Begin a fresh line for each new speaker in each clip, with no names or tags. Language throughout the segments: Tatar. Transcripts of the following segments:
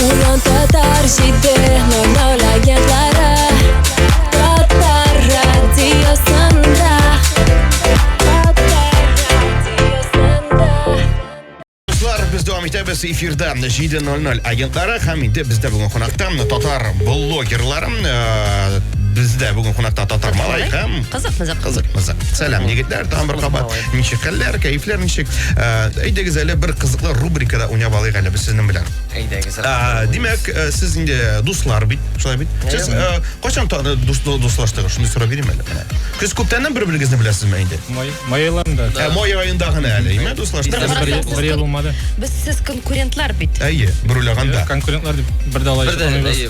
Уран татар
җиде нормаль агентлары Татар радиосында Татар радиосында Дуслар, без дәвам итәбез эфирда 7.00 агентлары һәм инде бездә бүген кунакта татар блогерлары э, бездә бүген кунакта татар малай һәм Кызык, кызык. Кызык, кызык. Сәлам, егетләр, тагын бер кабат. Ничек хәлләр, кәефләр ничек? Э, әйдәгез әле бер кызыклы рубрикада уйнап алыйк әле без сезнең белән. Әйдәгез. Э,
димәк, э,
сез инде дуслар бит, шулай бит. Сез кайчан дуслаштыгыз? Шуны сорап бирим әле. Сез күптәннән бер-берегезне беләсезме инде? Май, май айында.
Ә май айында гына
әле, име дуслаштыгыз? Бер ел булмады.
Без сез конкурентлар
бит. Әйе, бер уйлаганда.
Конкурентлар
дип бер дә алай.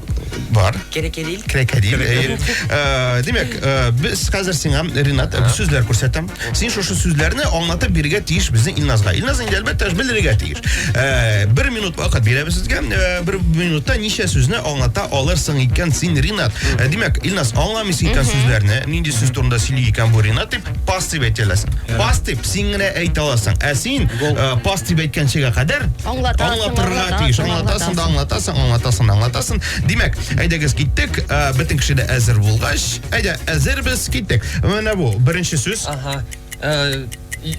Бар.
Керекедил. Крокодил.
әйе. Э,
Димәк, э, без хәзер сиңа, Ренат, э, сүзләр күрсәтәм. Син шушы сүзләрне аңлатып бирергә тиеш безнең Илназга. Илназ инде әлбәттә ж белергә тиеш. Э, Бер минут вакыт бирәбез сезгә. Э, Бер минутта ничә сүзне аңлата алырсың икән син, Ренат? Э, Димәк, Илназ аңламыйсы икән сүзләрне. Нинди сүз турында сөйли икән бу Ренат дип. пас дип әйтә аласың пас дип син генә әйтә аласың ә син э, пас дип әйткәнчегә кадәр Аңлатасың, аңлатырга аңлатасың, тиеш аңлатасың да аңлатасың аңлатасың да аңлатасың димәк әйдәгез киттек Э, бөтен кеше дә әзер булгач әйдә әзербез киттек менә бу беренче сүз Ага. Э, и-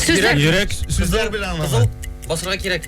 Сүзләр.
Йөрәк
сүзләр белән аңлама Кызыл басырга кирәк.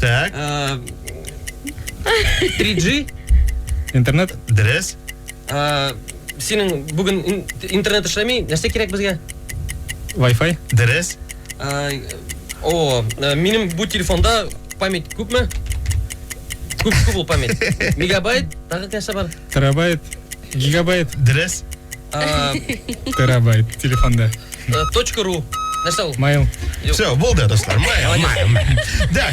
Так. Э, 3G. Интернет.
Дөрес. Э,
синең бүген интернет эшләми, нәрсә кирәк безгә? Wi-Fi.
Дөрес.
Э, о,
э, минем бу телефонда память күпме? Күп күп ул память. Мегабайт, тагы нәрсә бар? Терабайт,
гигабайт. Дөрес.
Э,
Терабайт телефонда. Э, точка ру.
Нәрсә ул? Mail.
Все, болды,
достар.
Mail, mail, mail. Да.